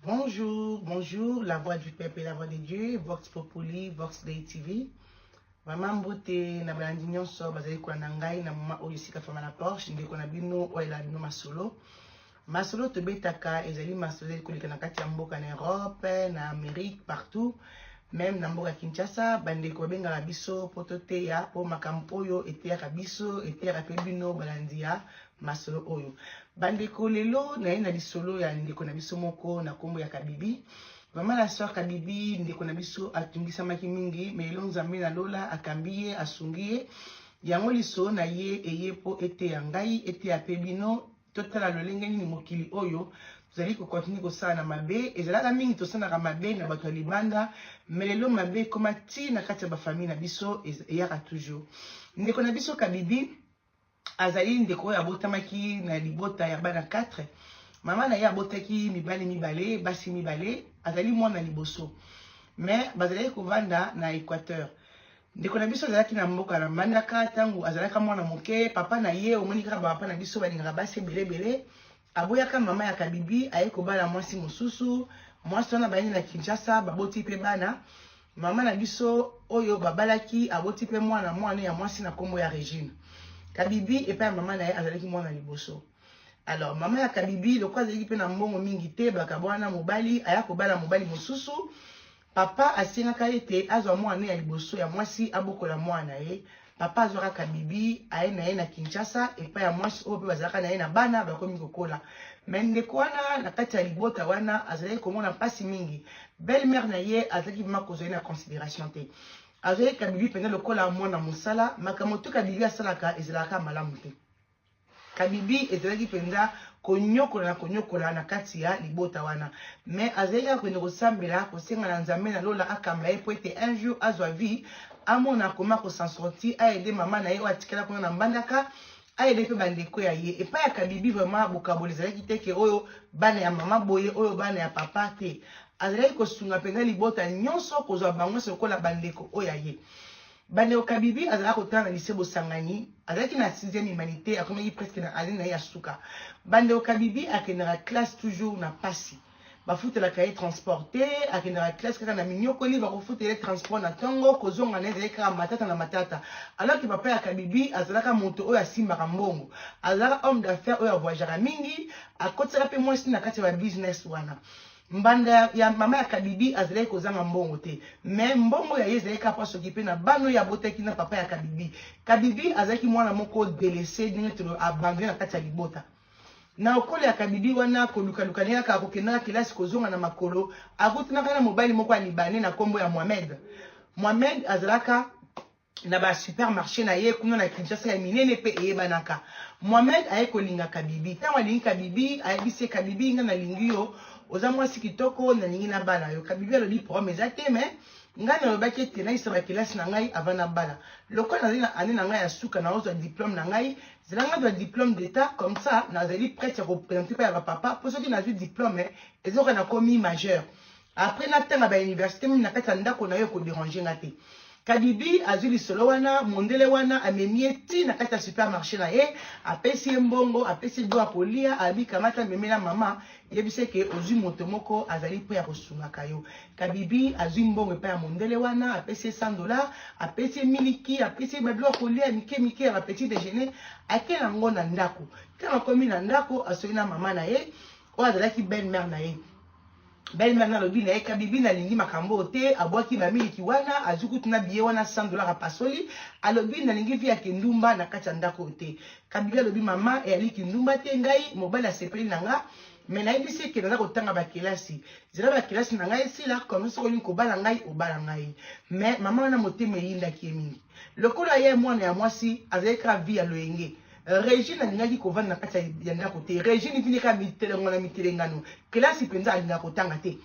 Bonjour, bonjour, la voix du peuple et la voix de Dieu, Vox Populi, Vox Day TV. Mama mbote na balandi nyonso bazali kolanda ngai na moma oyo esika fama na Porsche ndeko na bino oyo elaa bino masolo Masolo tobetaka ezali masolo ezali koleka na kati ya mboka na Europe, na Amerique, partout. Meme na mboka Kinshasa, bandeko babengaka biso mpo toteya, mpo makambo oyo eteyaka biso, eteyaka mpe bino balandi ya masolo oyo. Bandeko, lelo naye na lisolo ya ndeko na biso moko na nkombo ya Kabibi. Mama la soeur Kabibi, ndeko na biso atungisamaki mingi, mais lelo Nzambe na lola akambi ye, asungi ye. Yango lisolo na ye eye mpo eteya ngai, eteya mpe bino, Totala lolenge nini mokili oyo tozali kokontinue kosala na mabe. Ezalaka mingi tosalaka mabe na bato ya libanda, me lelo mabe ekoma ti na kati ya bafamille na biso, eyaka toujours. Ndeko na biso Kabibi azali ndeko oyo abotamaki na libota ya bana 4 mama na ye abotaki mibali mibale basi mibale azali mwana liboso mais bazalaki kovanda na équateur ndeko na biso azalaki na mboka na mbandaka ntango azalaka mwana moke papa na ye omoni kaka bapapa na biso balingaka basi ebele ebele aboyaka mama ya kabibi aye kobala mwasi mosusu mwasi wana bayandi na kinshasa baboti mpe bana mama na biso oyo babalaki aboti mpe mwana mwana ya mwasi na nkombo ya regine kabibi epai ya mama na ye azalaki mwana liboso alors mama ya kabibi lokola azalaki mpe na mbongo mingi te bakabwana mobali aya kobala mobali mosusu Papa asengaka ete azwa mwana ne ya liboso ya mwasi abokola mwana na ye. Papa azwa kaka Bibi aye na ye na Kinshasa epai ya mwasi oyo mpe bazalaka na ye na bana bakomi kokola. Mais ndeko wana na kati ya libota wana azalaki komona mpasi mingi. Belle mère na ye azalaki vraiment kozwa ye na consideration te. Azwaki kaka Bibi mpenza lokola mwana mosala. Makambo tout kaka Bibi asalaka ezalaka kaka malamu te. Kabibi ezalaki mpenza konyokola na konyokola na kati ya libota wana, me azalaki kaka kokende kosambela, kosenga na Nzambe na lola akamba ye mpo ete un jour azwa vie, amona koma ko s'en sortir, aide mama na ye oyo atikala kuna na Mbandaka, aide mpe bandeko ya ye. Epai ya Kabibi vraiment bokaboli ezalaki te ke oyo bana ya mama boye, oyo bana ya papa te. Azalaki kosunga mpenza libota nyonso, kozwa bango nyonso lokola bandeko oyo ya ye. Bandeko Kabibi azalaki kotanga na lycee Bosangani, azalaki na sixième humanité, akomaki presque na annee na ye ya suka. Bandeko Kabibi akendaka classe toujours na pasi. Bafutelaka ye transport te, akendaka classe kaka na minyokoli, bakofutela ye transport na tongo, kozonga na ye ezalaki kaka matata na matata. Alors que papa ya Kabibi azalaka moto oyo asimbaka mbongo, azalaka homme d'affaires oyo avoyageaka mingi, akotisaka mpe mwasi na kati ya ba business wana. Mbanda ya, ya mama ya Kabibi azalaki kozanga mbongo te mais mbongo ya ye ezalaki kaka mpo asokipe na bana oyo abotaki na papa ya Kabibi. Kabibi azalaki mwana moko delese ndenge tolo abandone na kati ya libota. Na okolo ya Kabibi wana kolukaluka ndenge kaka kokendaka kelasi kozonga na makolo akutanaka na mobali moko ya Libanais na nkombo ya Mohamed. Mohamed azalaka na ba supermarché na ye kuna na Kinshasa ya minene mpe eyebanaka Mohamed aye kolinga Kabibi ntango alingi Kabibi ayebisi ye Kabibi nga nalingi yo oza mwasi kitoko nalingi na bala yo Kabibi alobi problème eza te mais ngai nalobaki ete nayisa bakelasi na ngai avant nabala lokola nazali na année na ngai ya suka naozwa diplôme na ngai zela ngai zwa diplôme d'état comme ça nazali prête ya koprésente mpe ya bapapa mpo soki nazwi diplôme ezoka nakomi majeur Après na tanga ba université meme na kati ya ndako na yo ko déranger nga te. Kadibi azwi lisolo wana mondele wana amemi ye ti na kati ya supermarché na ye apesi ye mbongo apesi ye biloko kolia abi kamata memela mama yebisa eke ozwi moto moko azali mpo ya kosungaka yo kabibi azwi mbongo epai ya mondele wana apesi ye 100 dollar apesi ye miliki apesi ye babiloko kolia ya mike mike ya bapetit déjeuner akei yango na ndako ntango akomi na ndako asoki na mama na ye oyo azalaki belle mare na ye Belle mère nalobi na ye kabibi nalingi makambo oyo te abwaki ba miliki wana azwi kutu na billet wana 100 dollars apasoli alobi nalingi vie ya kindumba na kati ya ndako oyo te kabibi alobi mama eyali kindumba te ngai mobali asepeli na nga me nayebisi eke naza kotanga bakelasi zela bakelasi na ngai esila comme soki olingi kobala ngai obala ngai me mama wana motema eyindaki ye mingi lokola ye mwana ya mwasi azali kaka vie ya loyenge regine alingaki kovanda na kati ya ndako te regine vini kaka mitelengo na mitelengano kelasi mpenza alingaka kotanga te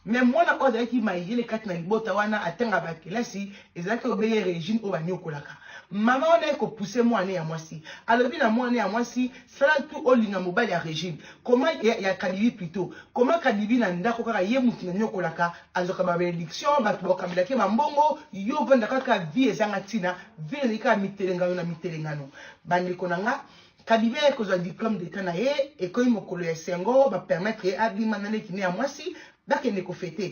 me mwana oyo azalaki mayele kati na libota wana atanga bakelasi ezalaki obele regine oyo baniokolaka mama wana ye kopuse mwana ya mwasi alobi na mwana ya mwasi sala tu olinga mobali ya regine koma ya, ya kadibi plito koma kadibi na ndako kaka ye motu naniokolaka Azwaka ba benediction, batu bakambelaka ye ba mbongo, yo ovanda kaka vie ezanga tina, vie ezali kaka mitelengano na mitelengano. Bandeko na nga, Kabibe aye kozwa diplome d'etat na ye, ekomi mokolo ya esengo, ba permettre ye abima na leki ne ya mwasi, bakende ko feter.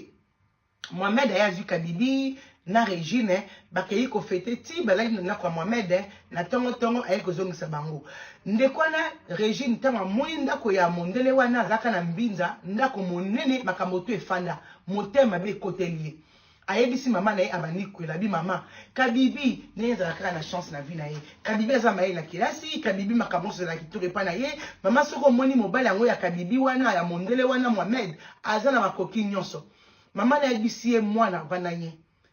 Mohamed aye azwi Kadibi, na Regine bakeyi ko fete ti balali na ndako ya Mohamed na tongo tongo aye kozongisa bango ndeko wana Regine tango amoni ndako ya mondele wana azalaka na mbinza ndako monene makambo tu efanda motema mabe ekoteli ye ayebisi mama na ye abandi kwela bi mama kabibi ndenge ezala kaka na chance na vie na ye kabibi aza mayele na kelasi kabibi makambo nyonso ezala kitoko epai na ye mama soki omoni mobali yango ya kabibi wana ya mondele wana Mohamed aza na makoki nyonso Maman na yebisi ye mwana avanda nye.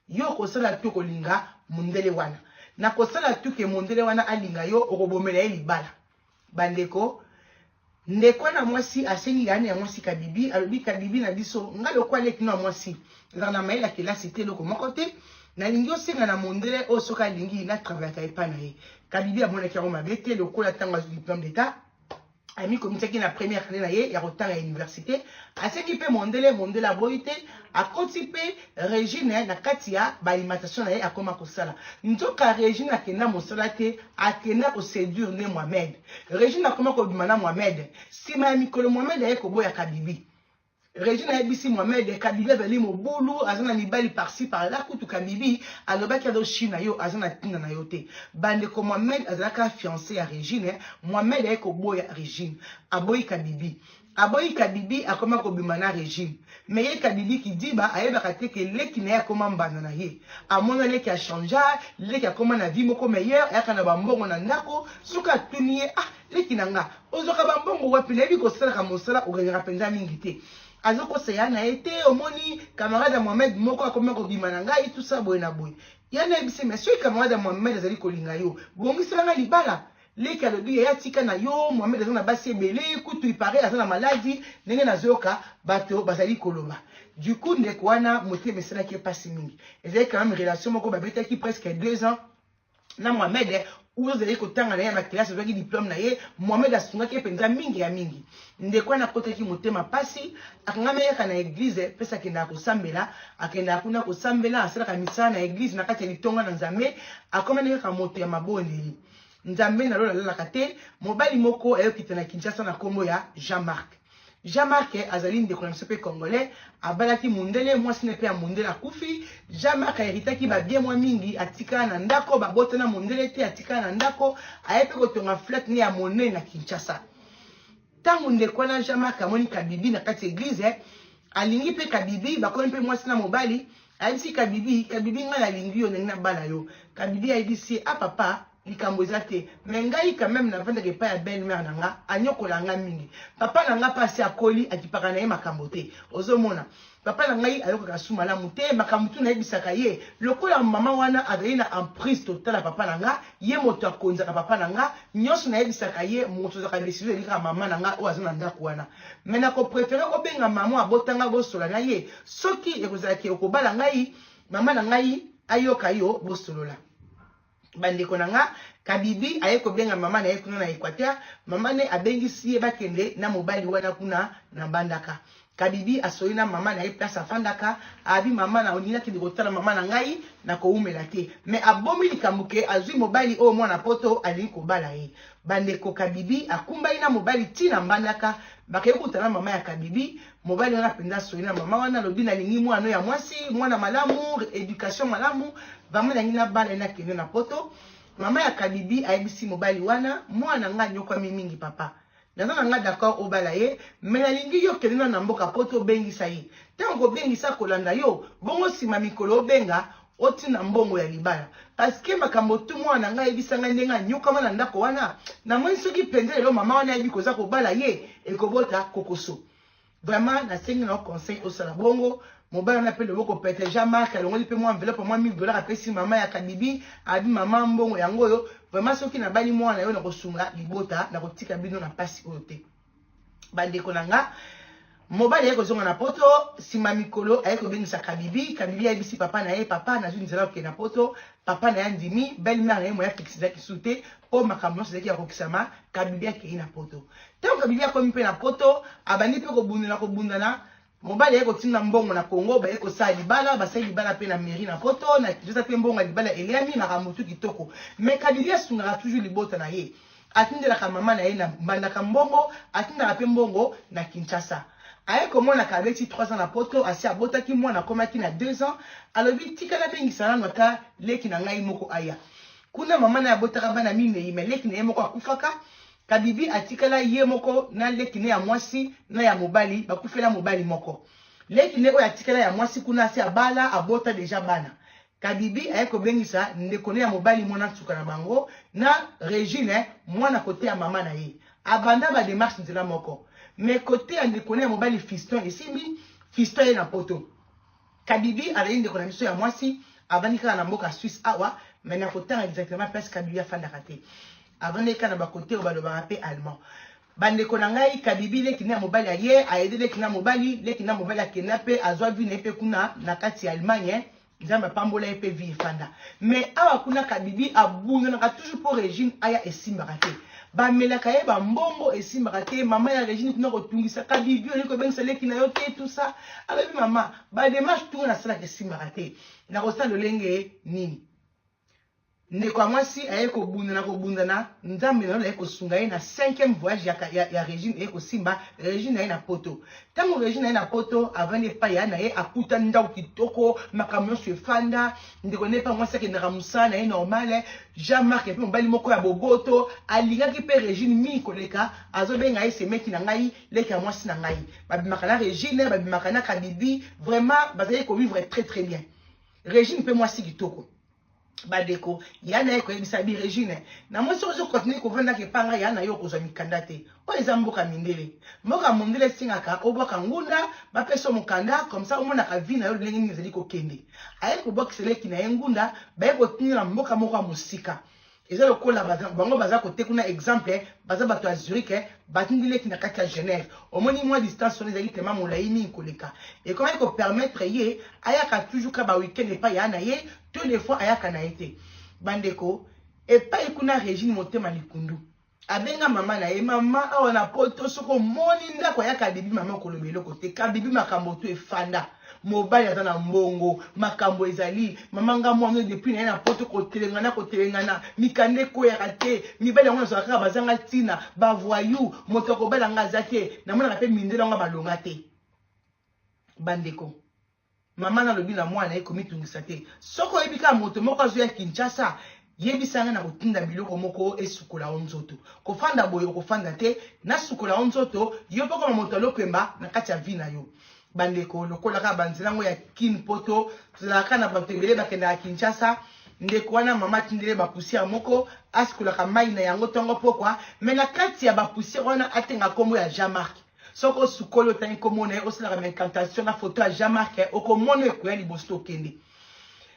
Yo okosala tout okolinga mundele wana. Na kosala tout que mondele wana alinga yo okobomela ye libala. Ba ndeko Ndeko wana ya mwasi asengi Ane ya mwasi Kabibi alobi Kabibi na biso nga lokola leki no ya mwasi nazalaka na mayele ya kelasi te eloko moko te nalingi osenga na mondele oyo soki alingi na travaillaka epai na ye. Kabibi amonaki yango mabe te lokola ntango azwi diplome d'etat amikomisaki na première année na ye ya kotanga ya université asengi mpe mondele mondele aboyi te akoti mpe regine na kati ya baalimentation na ye akoma kosala nzoka regine akenda mosala te akenda koseduire nde mohamed regine akoma kobima na mohamed nsima ya mikolo mohamed aye koboyaka bibi Regine ayebisi Mohamed Kabila ezali mobulu aza na mibali parci par là kutu Kabibi alobaki azo china yo aza na tina na yo te bandeko Mohamed azalaka fiance ya Regine Mohamed aye koboya Regine aboyi Kabibi aboyi Kabibi akoma kobima na Regine mais ye Kabibi kidiba ayebaka te ke leki na ye akoma mbanda na ye amona leki a changea leki akoma na vie moko meilleur ayaka na bambongo na ndako soki atuni ye ah Leki na nga, ozwaka ba mbongo wapi? Nayebi kosalaka mosala, oganyaka penza mingi te. Azokosa ya na ye te, omoni camarade ya Mohamed moko akomi kobima na ngai, tout ça boye na boye. Ya na yebisi mais soki camarade ya Mohamed azali kolinga yo, bongisela nga libala. Leki alobi yaya tika na yo, Mohamed aza na basi ebele, kutu il paraît aza na maladi, ndenge nazoyoka bato bazali koloba. Du coup ndeko wana motema esalaki ye pasi mingi. Ezali quand même relation moko babetaki presque deux ans. na mohamed oyo ozalaki kotanga na ye ya bakelasi ozwaki diplome na ye mohamed asungaki ye mpenza mingi ya mingi ndeko wana akotaki motema mpasi akangamaki kaka na eglize mpesi akendaka kosambela akendaka kuna kosambela asalaka misala na eglize na kati ya litonga na nzambe akomani kaka moto ya mabondeli nzambe na lola alalaka te mobali moko ayokita na kinshasa na nkombo ya jean marc Jean Marc azali ndeko na biso mpe congolais, abalaki mundele, mwasi na mpe ya mundele akufi. Jean Marc aheritaki babie mwa mingi, atikala na ndako, babota na mundele te, atikala na ndako, aye mpe kotonga flat ne ya monene na Kinshasa. Tango ndeko wana Jean Marc amoni Kabibi na kati ya eglise, eh, alingi mpe Kabibi, bakomi mpe mwasi na mobali, ayebisi Kabibi, Kabibi ngai nalingi yo, nalingi nabala yo. Kabibi ayebisi ye, ah papa, likambo eza te mais ngai quand même navandaka epai ya belle mère na nga anyokola nga mingi papa na nga mpe asi akoli akipaka na ye makambo te ozomona papa na ngai ayokaka su malamu te makambo tu nayebisaka ye lokola mama wana azali na emprise totala papa na nga ye moto akonzaka papa na nga nyonso nayebisaka ye moto ozaka desizio ezali kaka mama na nga oyo aza na ndako wana mai nakoprefere obenga mama abota ngai bosola na ye soki ekozalaki okobala ngai mama na ngai ayoka yo bosolola bandeko na nga kabibi aye kobenga mama na ye kuna na equateur mama ne abengisi ye bakende na mobali wana kuna na bandaka kabibi asoli na mama na ye place afandaka abi mama na olingi nakende kotala mama na ngai na kowumela te me abomi likambo ke azwi mobali oyo mwana poto alingi kobala ye bandeko kabibi akumbaki na mobali ti na mbandaka bakei kutana mama ya kabibi Mobali wana penza asoli na mama wana alobi na lingi mwana ya mwasi, mwana malamu, education malamu, vraiment na lingi na bala ina kende na poto. Mama ya Kadibi ayebisi mobali wana, mwana nga nyokwami mingi papa. Naza na nga d'accord obala ye, mais na lingi yo kende na na mboka poto obengisa ye. Tango kobengisa kolanda yo, bongo sima mikolo obenga Otina mbongo ya libala parce que makambo tu mwana na ngai ayebisa ngai ndenge anyokama na ndako wana namoni soki mpenza lelo mama wana ayebi koza kobala ye ekobota kokoso vraiment nasengi na yo conseil osala bongo mobali wana mpe loboko pete jean marc alongoli mpe mwa enveloppe mwa 1000 dollar apesi mama ya kadibi abi mama mbongo yango oyo vraiment soki nabali mwana yo nakosunga libota nakotika bino na mpasi oyo te Bandeko na nga, mobali aye kozonga na poto, sima mikolo aye kobengisa Kabibi, Kabibi ayebisi papa na ye, papa nazwi nzela ya kokende na poto, papa na ye andimi, belle mère na ye moyen ya fixe ezalaki lisusu te, po makambo nyonso ezalaki ya kokisama, Kabibi akeyi na poto. Tango Kabibi akomi pe na poto, abandi pe kobundana kobundana, Mobali aye kotinda mbongo na Congo, baye kosala libala, basali libala pe na mairie na poto, na Kinshasa pe mbongo ya libala eliami, na Ramutu kitoko. Mais Kadidi asungaka toujours libota na ye. Atindelaka mama na ye na Mbandaka mbongo, atindaka pe mbongo na Kinshasa. Aye komonaka abeti trois ans na poto, asi abotaki mwana akomaki na deux ans, alobi tika nabengisa nanu ata leki na ngai moko aya. Kuna mama na ye abotaka bana mineyi mais leki na ye moko akufaka, Kabibi atikala ye moko na leki ne ya mwasi na ya mobali bakufela mobali moko. Leki ne oyo atikala ya mwasi kuna asi abala abota deja bana. Kabibi aye kobengisa ndeko ne ya mobali mwana nsuka na bango na Regine mwana kote ya mama na ye. Abanda ba demarche nzela moko mais kote ya ndeko ne ya mobali fiston esimbi fiston aye na poto. Kabibi azali ndeko na biso ya mwasi avandi kaka na mboka Suisse awa mais nakotanga exactement place Kabibi afandaka te avandaki kaka na bakote oyo balobaka mpe allemand bandeko na ngai kabibi leki na mobali aye ayede leki na mobali leki na mobali akenda mpe azwa vi na ye mpe kuna na kati ya allemagne nzambe apambola ye mpe vi efanda mais awa kuna kabibi abundunaka toujours mpo regime aya esimbaka te Ba melaka ye ba mbongo esimbaka te maman ya Regine kuna ko tungisa ka bibi olingi ko bengisa leki na yo te tout ça alobi maman ba démarche tout na sala ke simbaka te na ko sala lolenge nini ndeko ya mwasi aye kobundana kobundana nzambe nayo naye kosunga ye na cinquième voyage ya, ya, ya régine eye kosimba régine na ye na poto ntango régine na ye na poto avandi epai ya na ye akuta ndako kitoko makambo nyonso efanda Ndeko Nepa mwasi akendaka mosala na ye normale. Jean Marc mpe mobali moko ya boboto alingaki mpe Regine mingi koleka, azobenga ye semeki na ngai, leki ya mwasi na ngai. Babimaka na Regine, babimaka na Kabibi, vraiment bazali kovivre très très bien. Regine mpe mwasi kitoko. Badeko, yana ye koyebisa bi Regine, na mwasi ozo continuer kovanda kepanga yana yo okozwa mikanda te. Oyo eza mboka mindele. Mboka mondele esengaka obwaka ngunda, bapesa yo mokanda, comme ça omonaka vie na yo lolenge nini ezali kokende. Aye kobwakisa leki na ye ngunda, baye kotinda na mboka moko ya mosika. Eza lokola baza, bango baza kote kuna exemple, baza bato ya Zurich, batindi leki na kati ya Genève. Omoni mwa distance wana ezali tellement molayi mingi koleka. Ekomaki ko permettre ye ayaka toujours kaka ba week-end epai ya na ye, to des fois ayaka na ye te. Bandeko, epai kuna Regine Motema Likundu. abenga mama na ye mama awa na poto soki omoni ndako ya kabibi mama okoloba eloko te kabibi makambo tu efanda mobali aza na mbongo makambo ezali mama nga mwana depuis naye na poto kotelengana kotelengana mikanda ekweyaka te mibali yango nazwaka kaka bazanga ntina bavoyu moto akobala nga aza te namonaka mpe mindele yango balonga te bandeko Maman nalobi na mwana ye komitungisa te. Soki oyebi kaka moto moko azo ya Kinshasa, yebisa nga na kotinda biloko moko esukola yo nzoto. Kofanda boye okofanda te, nasukola yo nzoto, yo pe okoma moto ya lopemba na kati ya vie na yo. Bandeko lokola kaka ba nzela yango ya Kin poto, tozalaka kaka na batu ebele bakendaka Kinshasa, ndeko wana maman atindeli ye ba poussière moko, asukolaka mayi na yango tongo pokwa, mais na kati ya ba poussière wana atenga kombo ya Jean Marc. soki osukoli otangi nkombo na ye osalaka ma incantation na foto ya jean marc eh, okomona ekoya liboso tokende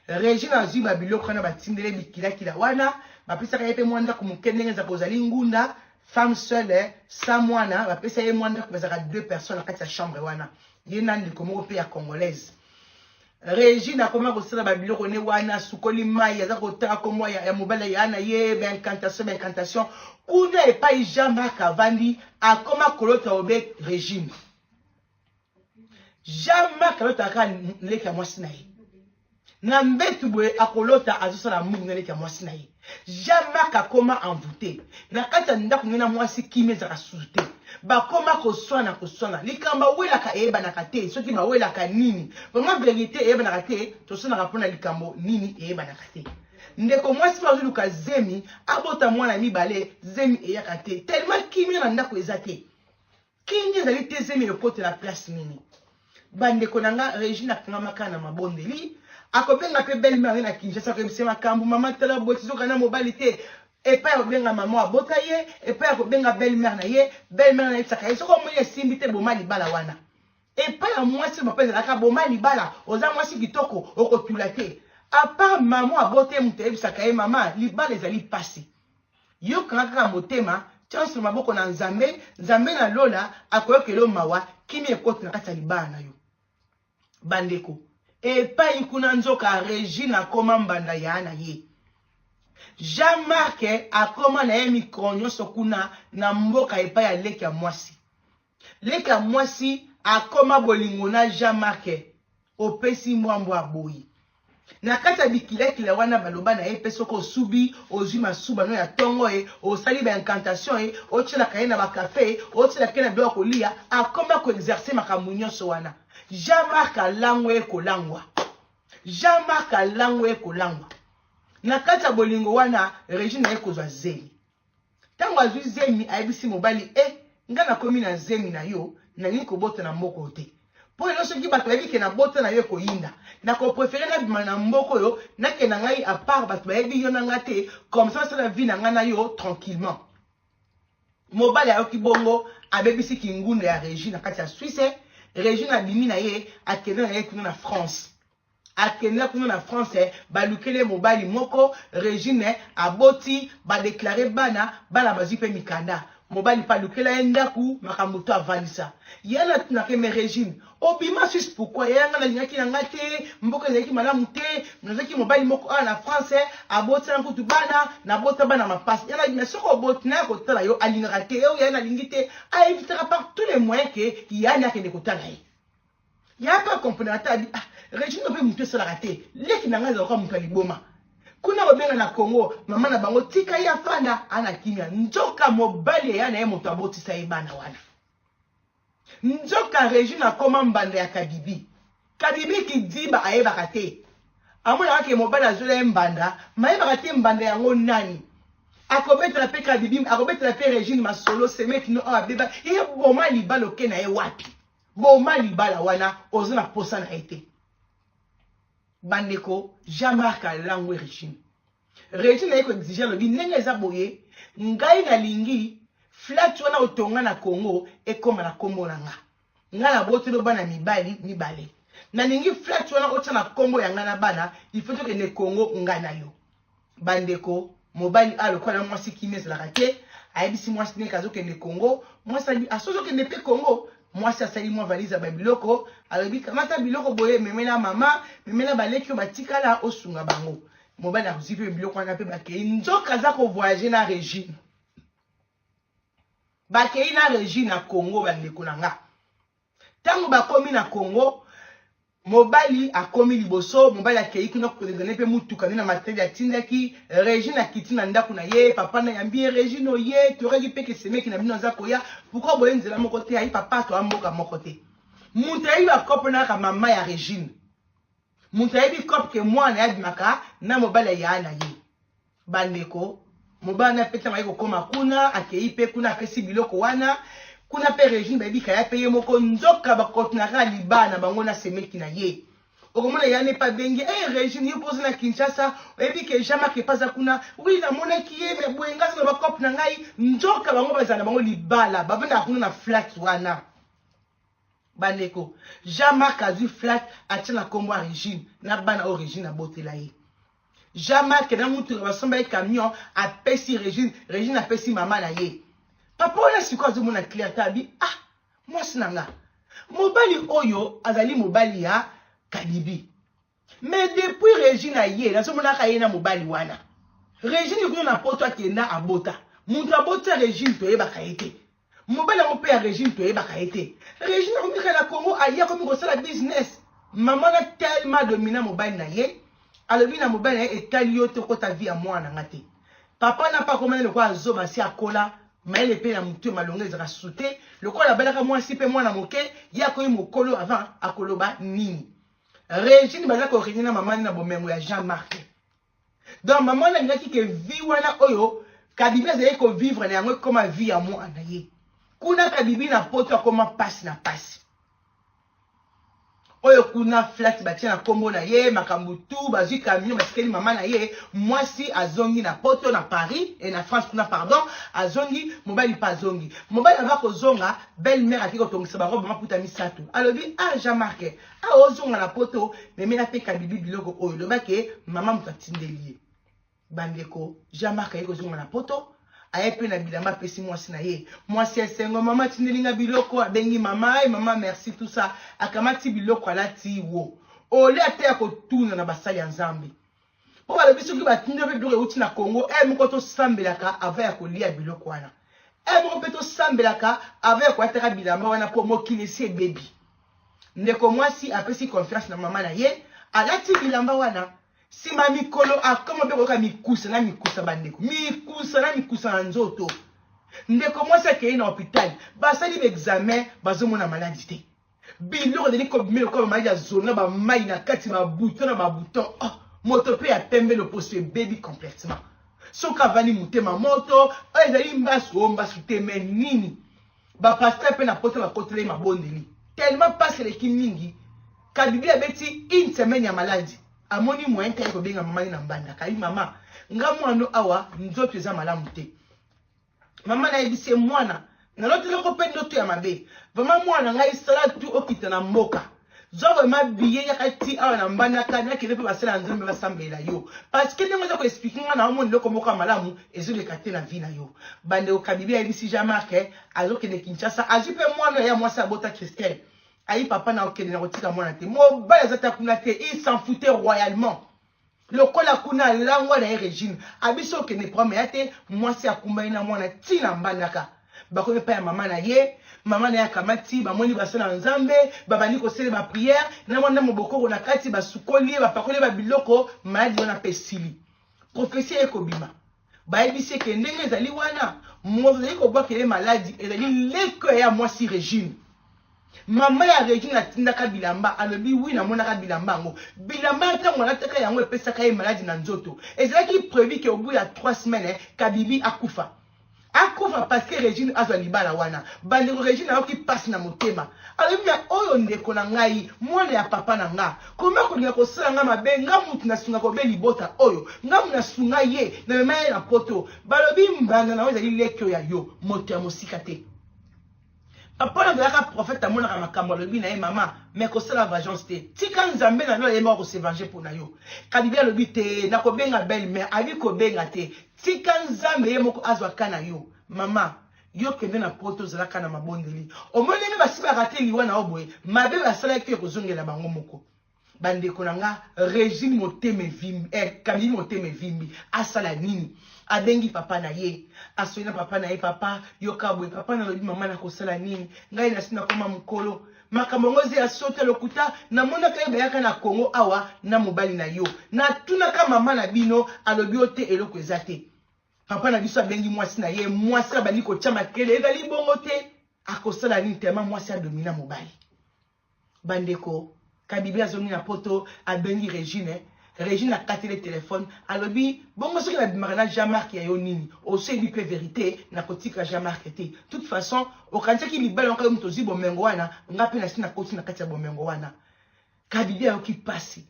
regine azwi babiloko wana batindele bikilakila wana bapesaka ye mpe mwa ndako moke ndenge ezaka ozali ngunda femme seule eh, sa mwana bapesa ye mwa ndako bazalaka deux personnes na kati ya chambre wana ye na ndeko moko mpe ya congolaise Regine akoma kosala ba biloko ne wana asukoli mai aza kotala kombo ya, ya mobali ya na ye baincantation baincantation kuna epai jean marc avandi akoma kolota obe regine jean marc alota kaka leki ya mwasi na ye na mbetu boye akolota azosala mungu na leki ya mwasi na ye Jean Marc akoma envoute na kati ya ndako nde na mwasi kimia ezaka susu te bakoma koswana koswana likambo awelaka eyebanaka te soki bawelaka nini vraiment verite eyebanaka te toswanaka mpona likambo nini eyebanaka te ndeko mwasi mpe azoluka zemi abota mwana mibale zemi eyaka te tellement kimia na ndako eza te Kenge ezali te zemi lokotela place nini bandeko na nga regine akangama kaka na mabondeli akobenga mpe belle mare na kinshasa akoyebisa makambo mama tala boye tizoka na mobali te epai akobenga mama abota ye epai akobenga belle mare na ye belle mare nayebisaka ye soki omoni esimbi te boma libala wana epai ya mwasi papa ezalaka boma libala oza mwasi kitoko okotula te apart mama abota ye moto ayebisaka ye mama libala ezali mpasi Yo kanga kaka motema tia nso maboko na nzambe nzambe na lola akoyokela yo mawa kimia ekoti na kati ya libala na yo bandeko epai kuna nzoka regine akoma mbanda ya na ye jean marc akoma na ye mikolo nyonso kuna na mboka epai ya leki ya mwasi leka mwasi akoma bolingo na jean marc opesi mbwambwa aboyi na kati ya bikilakila wana baloba na ye mpe soki osubi ozwi masuba no ya ntongo ye osali baincantation ye otyelaka ye na bakafe ye otyelaka ye na biloko ya koliya akoma koexerce makambo nyonso wana jean marc alangwa ye kolangwa jean marc alangwa ye kolangwa na kati ya bolingo wana regine aye kozwa zeli Tango azui zemi ayebisi mobali eh nga nakomi na zemi na yo nalingi kobota na mboka oyo te mpo lelo soki bato bayebi ke nabota na yo ekoyinda nakoprefere nabima na mboka oyo nakenda ngai apart bato bayebi yo na nga te comme ça basala vie na nga na yo tranquillement mobali ayoki bongo abebisi kingunda ya regine na kati ya swisse regine abimi na ye akenda na ye kuna na france Akenda kuna na France balukele mobali moko Regine aboti ba declare bana bana bazui pe mikanda mobali pa lukela ye ndaku makambo to avalisa ya na tunake me Regine obima suisse pourquoi ya nga nalingaki na nga te mboka ezalaki malamu te nazaki mobali moko awa na France aboti na kutu bana na bota bana mapasi ya na soko oboti na ya kotala yo alingaka te yo ya nalingi te a evitaka par tous les moyens que ya na akende kotala ye ya pe comprendre ata abi ah Regina pe mutu esalaka te leki na ngai ezalaka mutu ya liboma kuna kobenga na Congo mama na bango tika ye afanda ana kimia nzoka mobali eya na ye moto abotisa ye bana wana nzoka Regina akoma mbanda ya Kadibi Kadibi kidiba ayebaka te amonaka ke mobali azola ye mbanda mayebaka te mbanda yango nani akobetela mpe kadibim akobetela mpe regine masolo semeki no oyo abeba ye boma libala oke na ye wapi Boma libala wana oza na posa na ye te. Bandeko, Jean Marc alangwe Regine. Regine aye ko exige alobi ndenge eza boye ngai nalingi flat wana otonga na Congo ekoma na kombo na nga. Nga na botelo bana mibali mibale. Nalingi flat wana otia na kombo ya nga na bana il faut tokende Congo nga na yo. bandeko mobali a ah, lokola na mwasi kimi ezalaka te ayebisi mwasi ndenge azokende congo mwasi alobi aso ah, ozokende mpe congo mwasi asali mwa valise ya babiloko alobi kamata biloko boye memela mama memela baleki oyo batikala osunga bango mobali akozwi mpe biloko wana mpe bakei nzoka aza kovoyage na regine bakei na regine na congo bandeko na nga Tango bakomi na Congo, mobali akomi liboso, mobali akeyi kuna koleka ne pe mutuka ne na matadi atindaki, Regine akiti na ndaku na ye, papa na yambi ye, Regine oye, toyokaki pe ke semeki na bino aza koya, pourquoi boye nzela moko te, ayi papa toa mboka moko te. Mutu ayebi ba coop na kaka mama ya Regine. Mutu ayebi coop ke muana abimaka na mobali ya yaya na ye. Bandeko, mobali na Petra maye kokoma kuna, akeyi pe kuna apesi biloko wana. Kuna pe Regine bayebi kaya pe ye moko nzoka bakotinaka libaa na bango na semeki na ye. okomona ya nepa abengi e eh, regime yo mpoza na kinshasa oyebi ke jean marc epaza kuna wi namonaki ye me boye ngai na bacope na ngai nzoka bango bazala na bango libala bavandaka kuna na flat wana bandeko jean marc azwi flat atia na nkombo ya regine na bana oyo regine abotela ye jean marc na motuka basomba ye camion apesi regine regine apesi mama na ye papa wana sikoyo azomona claire te abi ah mwasi na nga mobali oyo azali mobali ya kadibi Mais depuis Regine aye nazomonaka ye na mobali wana. Regine kuna na poto akenda abota. Mutu aboti ya Regine toyebaka ye te. Mobali yango mpe ya Regine toyebaka ye te. Regine akomi kaka na Congo aye akomi kosala business. Mama na tellement domina mobali na ye. Alobi na mobali na ye etali yo te okota vie ya mwana na nga te. Papa na pa komana lokola zoba si akola mayele mpe na motu ya malonga ezaka sute lokola abalaka mwasi mpe mwana moke ye akomi mokolo avant akoloba nini. regine baza korigner na mama na bomengo ya jean marc donc mama wana alingaki ke vie wana oyo kabibi azalaki kovivre na yango ekoma vie ya mwana ye kuna kabibi na poto akoma mpasi na mpasi oyo kuna flat batie na nkombo na ye makambo tu bazwi kamino batikeli mama na ye mwasi azongi na poto na paris e na france kuna pardon azongi mobali mpe azongi mobali ava kozonga belle mare akei kotongisa barobe maputa misato alobi ah jean marke Awa ozonga na poto, memela pe kabibi biloko oyo loba ke mama moto atindeli ye. Bandeko, Jean Marc aye kozonga na poto, aye pe na bilamba apesi mwasi na ye. Mwasi esengo, mama atindeli nga biloko, abengi mama, ay mama merci tout ça, akamati biloko alati wo. Ole ate ya kotuna na basali ya Nzambe. mpo balobi soki batindi mpe biloko euti na congo e moko tosambelaka ava ya kolia biloko wana e moko mpe tosambelaka ava ya kolataka bilamba wana mpo mokili esi ebebi ndeko mwasi apesi confiance na mama na ye alati bilamba wana nsima ya mikolo akoma mpe koyoka mikusa na mikusa bandeko mikusa na mikusa na nzoto ndeko mwasi akei na hopitale basali baexamen bazomona maladi te biloko ezali kobimi lokola mai ya zolo na bamai na kati babuto na babuto oh, moto mpe ya pembe loposo ebebi complètement soki avandi motema moto oyo oh, ezali mbasu o oh, mbasu te me nini bapasteur mpe na poto bakotelai mabondeli tellement mpasi eleki mingi kabibi abeti une semaine ya maladi amoni moyen te aye kobenga mama ye na mbanda kayi mama nga mwano awa nzoto eza malamu te mama nayebisi ye mwana naloti noko mpe ndoto ya mabe vrema mwana na ngai sala tu okita na mboka zwa vrema biye yaka ti awa na mbandaka nakende mpe basala ya nzambe basambela yo parceke ndenge oza koexplike ngai na omona eloko moko ya malamu ezoleka te na vi na yo bandeko kabibi ayebisi jean marc eh, azokende kinshasa azwi mpe mwana ya mwasi abota christelle ayi papa na okende na kotika mwana te mobali aza ta kuna te il s'en foutait royalement Lokola kuna alangwa na ye regime abisi okende programme ya te mwasi akumbani na mwana ti na mbandaka bakomi epai ya mama na ye mama na ye akamati bamoni basala na nzambe babandi kosele bapriere na mwana mobokoko na kati basukoli ye bapakoli ye babiloko maladi wana mpe esili profesi eye kobima bayebisi ye ke ndenge ezali wana moto azali kobwakela ye maladi ezali leko ya mwasi regine mama ya regine atindaka bilamba alobi wi namonaka bilamba yango bilamba ya ntango alataka yango epesaka ye maladi na nzoto ezalaki prevu ke obu ya 3 semaine eh, kabibi akufa akufa parceke regine azwa libala wana bandeko regine ayoki mpasi na motema alobi na oyo ndeko na ngai mwana ya papa na nga Comment kolinga kosala nga mabe nga mutu na sunga kobe libota oyo nga muna sunga ye na mema ye na poto balobi mbanda na yo ezali leki oyo ya yo moto ya mosika te papa na azalaka prophète amonaka makambo alobi na ye mama me kosala vagence te tika nzambe na yo ayembaka kosevange mpo na yo kadibi alobi te nakobenga belle mare abi kobenga te tika nzambe ye moko azwa ka na yo mama Yo kende na poto zala kaka na mabondeli. Omoni ndenge basi ba rate liwa na yo boye, mabe basalaki yo ekozongela bango moko. Bandeko na nga, Regine motema evimbi, eh, Camille motema evimbi, asala nini? Abengi papa na ye, asoli na papa na ye, papa, yoka boye, papa nalobi mama nakosala nini? Ngai nasi nakoma mokolo. Makambo yango eza ya sota lokuta, namonaka ye bayaka na Congo awa na mobali na yo. Natunaka mama na bino, alobi yo te eloko eza te. Papa na biso abengi mwasi na ye, mwasi abandi kotia makele, ezali bongo te. Akosala nini tema mwasi adomina mobali? Bandeko, Kabibi azongi na poto, abengi Regine. Regine akatele telefone, alobi bongo soki nabimaka na Jean Marc ya yo nini? Osi oyebi mpe verite, nakotika Jean Marc te. Toute façon, okanisaki libala yango yo moto ozwi bomengo wana, nga mpe nasi nakoti na kati ya bomengo wana. Kabibi ayoki pasi.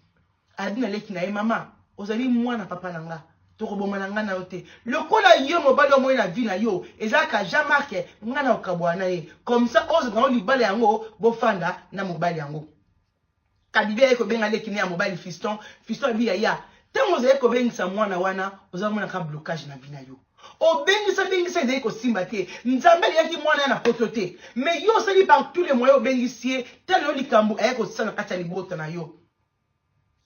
Alobi na leki na ye, Mama, ozali mwana papa na nga. Tokobomana nga na yo te. Lokola yo mobali omoni na vie na yo eza kaka Jean Marc, nga nakokabola na ye. Comme ça ozwa na yo libala yango, bofanda na mobali yango. Kabibi aye kobenga leki na ye ya mobali Fiston. Fiston alobi, Yaya, tango ozali kobengisa mwana wana, ozali komona kaka blocage na vie na yo. Obengisa bengisa ezali kosimba te. Nzambe alingaki mwana ya na poto te. Mais yo osali par tous les moyens obengisi ye, tala yo likambo aye kosala na kati ya libota na yo.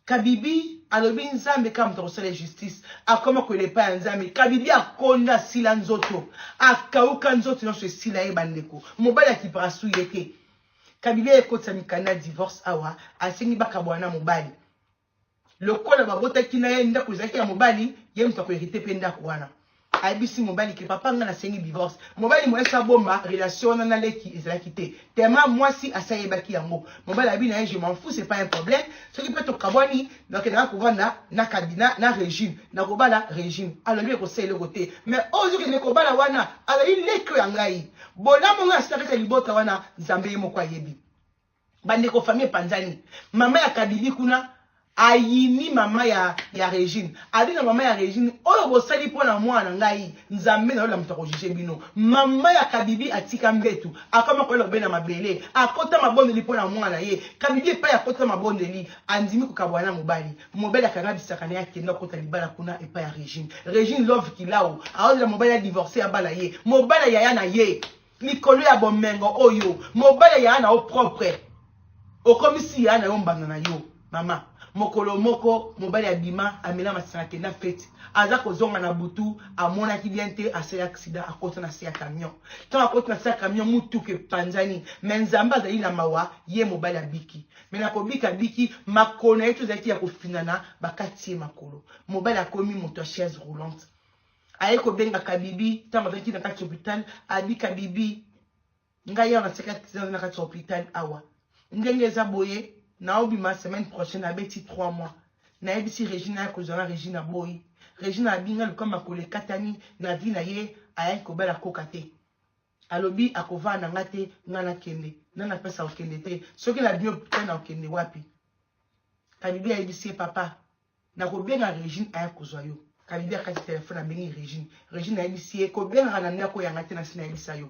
Kabibi alobi nzambe kaka moto akosala ye justice akoma koyela epai ya nzambe. Kabibi akonda asila nzoto akauka nzoto nyonso esila ye bandeko mobali akipaka su ye te. Kabibi aye kotisa mikanda divorce awa asengi bakabwana na mobali lokola babotaki na ye ndako ezalaki ya mobali ye moto akoherite mpe ndako wana. Ayebisi mobali que papa nga nasengi divorce. Mobali moyen soki abomba relation wana na leki ezalaki te. Tellement mwasi asi ayebaki yango. Mobali alobi na ye je m'en fous c'est pas un problème. Soki pe tokabwani nakendaka kovanda na kabina na Regine. Nakobala Regine. Alobi ekosala eloko te. Mais oyo ozokende kobala wana azali leki oyo ya ngai. Bolamu nga nasilaka kati ya libota wana Nzambe ye moko ayebi. bandeko famille epanzani mama ya kabili kuna ayini mama ya, ya regine abi na mama ya regine oyo bosali mpo na mwana na ngai nzambe na yo lamuta kojuge bino mama ya kabibi atika mbetu akoma koyela obe na mabele akota mabondeli mpo na mwana na ye kabibi epai akota mabondeli andimi kokabwana na mobali mobali akanga bisaka na ye akenda kota libala kuna epai ya regine regine love kilao aolela mobali ya divorce ya bana ye mobali ya yaya na ye Likolo ya bomengo oyo mobali ya na yo propre okomisi ya na yo mbanda na yo mama mokolo moko mobali abima amela masanga kenda fete aza kozonga na butu amonaki bien te asali aksida akota na se ya camion ntango akoti na se ya camion motuka epanzani me nzambe azali na mawa ye mobali abiki me na kobika abiki makolo na ye to ezalaki ya kofinana bakati ye makolo mobali akomi moto ya chaise roulante Aye kobenga kabibi tango azalaki na kati hopital abi kabibi ngai awa naseki accident na kati ya hopital awa ndenge eza boye naobima semaine prochaine abeti 3 mois nayebisi regina ya kozala regina boyi regina abinga luka makolo ekatani na vi na ye ayaki kobala koka te alobi akovaa na nga te nga nakende nga napesa okende te soki na bino hopital na okende wapi kabibi ayebisi ye papa Nakobenga Regine aya kozwa yo. Kalibi akati telephone abengi Regine. Regine ayebisi ye kobengaka na ndako ya nga te nasi nayebisa yo.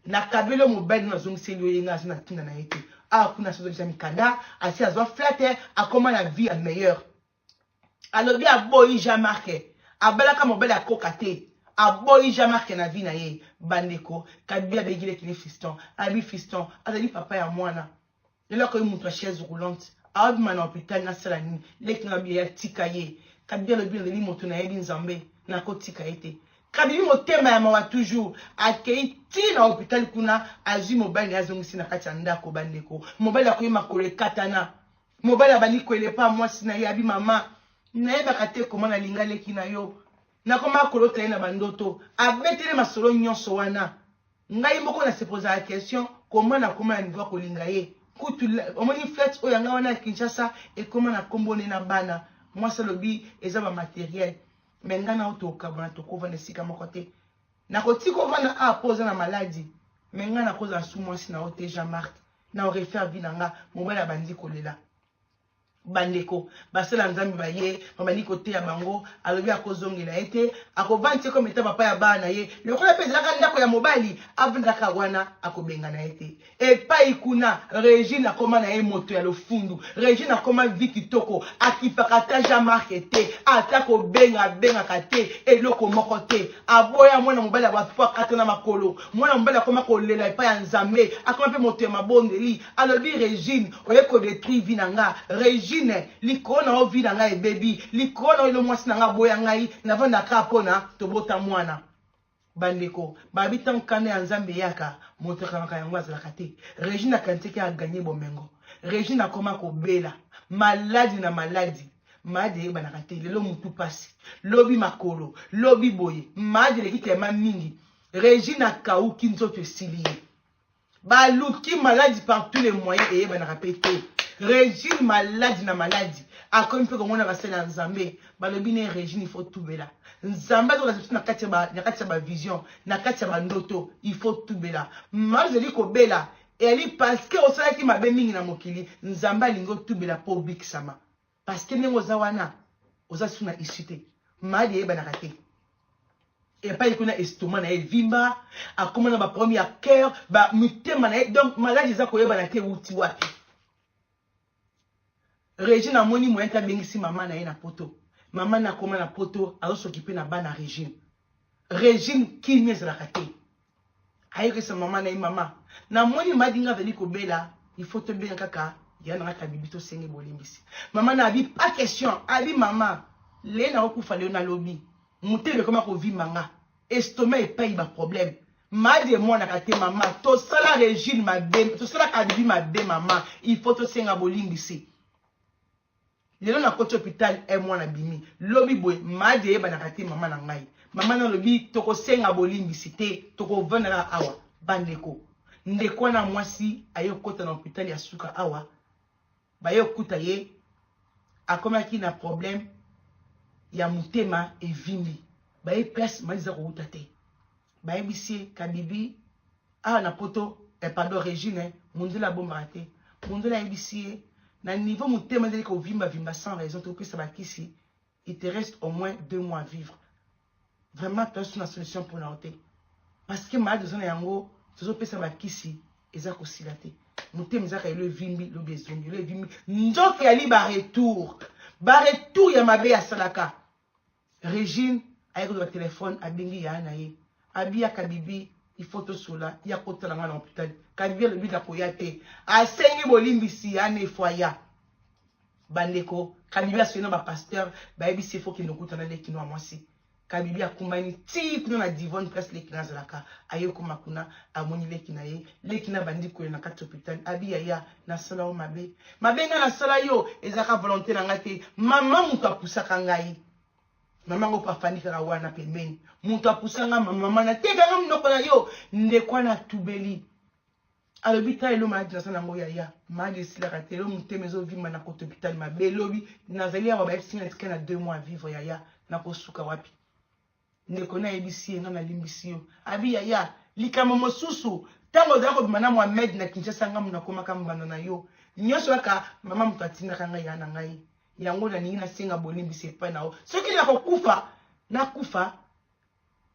Nakabeli yo mobali no nazongiseli yo ye nga naza na tina na ye te. Awa kuna asi azongisa mikanda, asi azwa flatte, akoma na vie ya meilleur. Alobi aboyi Jean Marc. Abalaka mobali ya koka te. Aboyi Jean Marc na vie na ye. Bandeko, Kalibi abengi leki ne Fiston. Alobi Fiston azali papa ya mwana. lelo akoki moto ya chaise roulante abima na hopital nasala nini leki na biya tika ye kabi alobi naleli moto nayebi nzambe nakotika ye te kabibi motema ya mawa toujours akei ti na hopital kuna azwi mobali na ye azongisi na kati ya ndako bandeko mobali akoyi makolo ekatana mobali abandi koelepa mwasi na ye abi mama nayebaka te koma nalinga leki na yo nakoma kolota ye na bandoto abetele masolo nyonso wana ngai moko na se posaka question comment nakoma na niveau ya kolinga ye kutu omoni flete oyo yanga wana ya kinshasa ekoma na nkombo ne na bana mwasi alobi eza bamateriel me ngai nao tokabwana tokovanda esika moko te nakotika ovanda a mpo oza na maladi me ngai nakozala su mwasi na yo te jean marc na orefaire vi na nga mobali abandi kolela bandeko basala nzambe baye babandi koteya bango alobi akozongela ye te akovandi te kometa papa ya bana na ye lokola mpe ezalaka ndako ya mobali avandaka wana akobengana ye te epai kuna regine akoma na ye moto ya lofundu regine akoma vi kitoko akipaka ata jean marke te ata kobenga abengaka te eloko moko te aboya mwana mobali ya bato mpo akatana makolo mwana mobali akoma kolela epai ya nzambe akoma mpe moto ya mabondeli alobi regine oye kodetruire vi na nga regine likolo na yo vi na ngai ebebi likolo na yo elo mwasi na ngai aboya ngai navandaka mpona tobota mwana bandeko babi ntango kanda ya nzambe eyaka moto akanaka yango azalaka te regine akanisaki aganye bomengo regine akoma kobela maladi na maladi Mad eyebanaka te lelo mutu pasi lobi makolo lobi boye mad eleki tema mingi regina kauki nzoto esili ye baluki maladi par tous les moyens eyebanaka mpe te regine maladi na maladi akomi mpe komona basali ya nzambe balobi ne regine ifo tubela nzambe azolasa biso na kati ya bavision na kati ya bandoto ifo tubela mado ezali kobela eyali parceke osalaki mabe mingi na mokili nzambe alingi otubela mpo obikisama parce que ndenge oza wana oza susu na issue te madi eyebanaka te epai kuna estoma na ye evimba akoma na baproblème ya cœur bamitema na ye donc maladi eza koyebana te euti wapi regine amoni moyen te abengisi mama na ye na poto mama na akoma na poto azosoki mpe na bana regine regine kimia ezalaka te ayokisa mama na ye mama namoni madinga azali kobela il faut tobenga kaka ya na kaka bibi tosenge bolimbisi mama na abi pas question abi mama le na okufa leo nalobi motema ekoma kovimba nga estoma epai baproblème madi emonaka te mama tosala regime mabe tosalaka bibi mabe mama il faut tosenga bolimbisi lelo nakoti hopital e mwana abimi lobi boye madi eyebanaka te mama na ngai mama na alobi tokosenga bolimbisi te tokovanda na awa bandeko ndeko wana mwasi aye kokota na hopital ya suka awa baye kokuta ye akomaki na problème ya motema evimbi baye place madi eza kowuta te bayebisi ye kabibi Awa na poto eh, pardon Regine eh, Munzela abombaka te. Munzela ayebisi ye na niveau motema ezali kovimba vimba sans raison topesa bakisi il te reste au moins deux mois à vivre vraiment toasu na solution mpona yo te parce que malade oza na yango tozopesa bakisi eza kosila te motema ezaka elo evimbi lobi ezongi elo evimbi nzoto yali baretour baretour ya mabe asalaka Regine aye kozwa telephone abengi yaya na ye abi ya kabibi il faut tosola ye akotala nga na hopital kabibi alobi nakoya te asengi bolimbisi ya ne fo aya bandeko kabibi asoyi na bapasteur bayebisi ye fo kende okutana lekino ya mwasi kabibi akumbani ti kuna na divone place leki na azalaka aye okoma kuna amoni leki na ye leki na bandi kolela na kati hopital abi yaya nasala yo mabe mabe ngai nasala yo ezalaka volonté na ngai te mama moto apusaka ngai mama ngo mpe afandi kaka wana pembeni moto apusa ngai mama nateka ngai monoko na yo ndeko wana atubeli alobi ta elo maladi naza nango yaya maladi esilaka te elo motema ezovimba na koto hôpital mabe elobi nazali awa bayebisi ngai natika na deux mois vivre yaya nakosuka wapi Ndeko na yebisi ye nga na limbisi yo. Abi yaya, likambo mosusu, tango ozalaki kobima na Mohamed na Kinshasa nga mutu nakomaka mbanda na yo. Nionso kaka mama mutu atindaka nga yaya na ngai. Yango nalingi nasenga bolimbisi epai na yo. Soki nakokufa, nakufa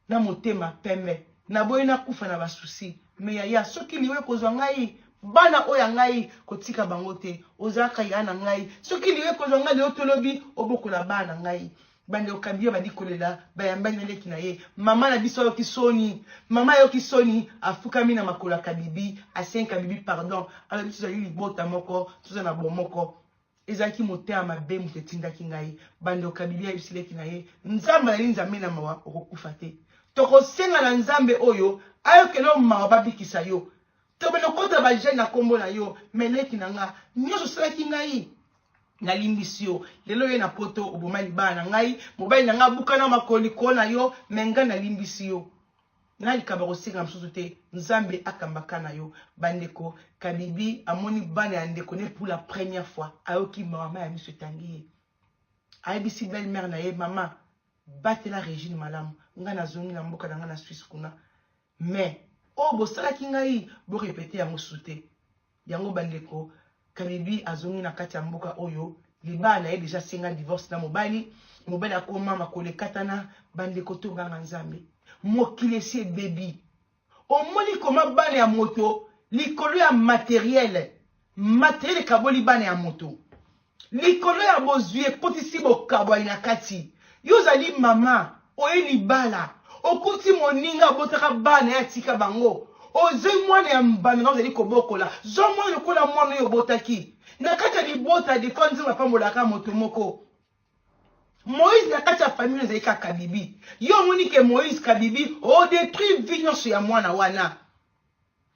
na motema pembe. Naboyi nakufa na ba souci. Mais yaya, soki liwa ekozwa ngai, bana oyo ya ngai, kotika bango te. Ozalaka yaya na ngai. Soki liwa ekozwa ngai lelo to lobi, obokola bana na ngai. Bandeko Kabila abandi kolela, bayambani na leki na ye. Mama na biso ayoki soni, mama ayoki soni, afukami na makolo ya Kabibi, asengi Kabibi pardon, alobi tozali libota moko, toza na bomoko. Ezalaki motema mabe moto etindaki ngai. Bandeko Kabibi ayebisi leki na ye, Nzambe azali Nzambe na mawa, okokufa te. Tokosenga na Nzambe oyo ayokela yo mawa babikisa yo. Tobanda kota ba jeune na kombo na yo, mais leki na nga, nyonso osalaki ngai nalimbisi yo lelo oye na poto oboma libala na ngai mobali na ngai abukana makoli ko na yo me ngai nalimbisi yo na likambo ya kosenga mosusu te nzambe akambaka na yo bandeko kabibi amoni bana ya ndeko ne pour la première fois ayoki mama ya miso etangi ye ayebisi belle mare na ye mama batela regine malamu ngai nazongi na mboka na ngai na swisse kuna Mais oyo bosalaki ngai bo repeter yango su te. Yango bandeko Kadibi azongi na kati ya mboka oyo libala na ye deja asenga divorce na mobali mobali akoma makolo ekatana bandeko tobanga nzambe mokili esi ebebi omoni koma bana ya moto likolo ya materiele materiele ekaboli bana ya moto Likolo ya bozwi ekotisi bokabwani na kati. Yo ozali mama, oye libala, okuti moninga abotaka bana ye atika bango. Ozwi mwana ya mbanda na ozali kobokola. Zwa mwana lokola mwana oyo obotaki. Na kati ya libota, defa nzambe apambolaka moto moko. Moïse na kati ya famille ezali kaka kabibi. Yo omoni ke Moïse kabibi, odetruire vie nyonso ya mwana wana.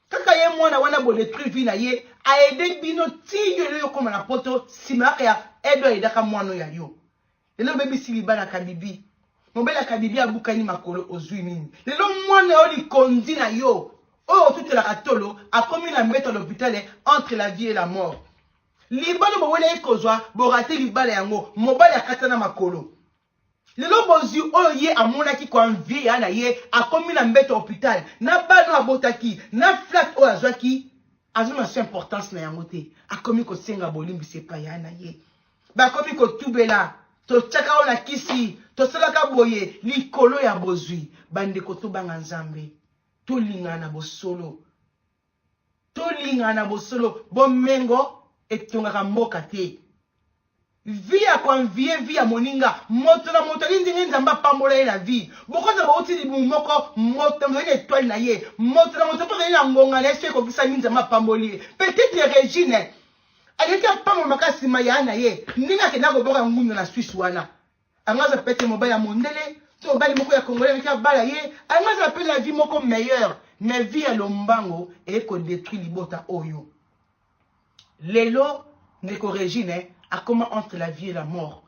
kaka ye mwana wana bo detruire vie na ye aide bino ti yo lelo okoma na poto nsima yaka ya edo aidaka mwana oyo ya yo lelo obebisi libala kabibi mobele akabibi abukani makolo ozwi nini lelo mwana yo likonzi na yo oyo otutelaka tolo akomi na mbeto ya lopitale entre la vie et la mort libala bowelaki kozwa borate libala yango mobali akata na makolo Lelo bozwi oyo ye amonaki ko envier yaya na ye akomi na mbeto ya hopital na bana oyo abotaki na flat oyo azwaki azomona so importance na yango te akomi kosenga bolimbisi epai yaya na ye bakomi kotubela totyaka yo na kisi tosalaka boye likolo ya bozwi bandeko tobanga nzambe tolingana na bosolo Tolingana bosolo bomengo etongaka mboka te. Vie ya koanvie vie ya moninga moto na moto alingi ndenge nzambe apambola ye na vie bokoza bauti libumu moko moto na moto aye na etoile na ye moto na moto mpe azali na ngonga na ye so ekokisami nzambe apamboli ye petite regine aleki apambola makasi mayaya na ye ndenge akenda kobwaka ngunda na swisse wana Yango aza peut être mobali ya mondele to mobali moko ya congolais alaki abala ye yango aza peut na vie moko meilleure mais vie ya lombango eye kodetruire libota oyo lelo ndeko regine akoma entre la vie et la mort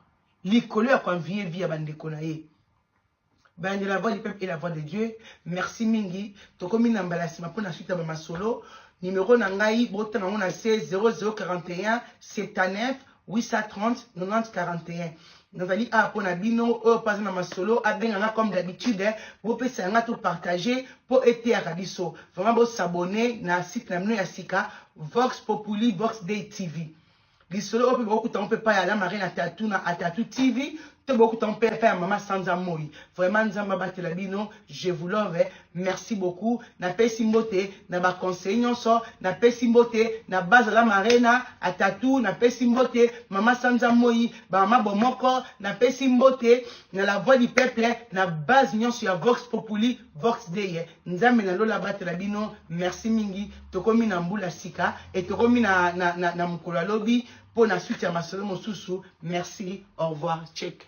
likolo ya koenvie vie ya bandeko na ye Balandi la voix du peuple et la voix de Dieu. Merci mingi. Tokomi na mbala sima pona suite ya ba masolo. Numero na ngai botanga ngo na se 0041 79 830 90 41. Nazali a pona bino oyo paza na masolo abenga nga comme d'habitude eh, bopesa nga to partager po eteyaka biso. Vraiment bo s'abonner na site na bino ya sika Vox Populi Vox Day TV. lisolo oyo mpe bokokuta yango mpe epai ya lamare na tatu na atatu tv to bokokuta yango mpe epai ya mama sanza moi vraiment nzambe abatela bino je vous love merci beaucoup napesi mbote na baconseil nyonso napesi mbote na baza lamare na atatu napesi mbote mama sanza moi bamama bomoko napesi mbote na la voix du peuple na base nyonso ya vox populi Vox Dei, Nzambe na lola abatela bino, merci mingi. Tokomi na mbula sika et tokomi na na na, na mukolo lobi pour na suite ya masolo mosusu. Merci, au revoir, check.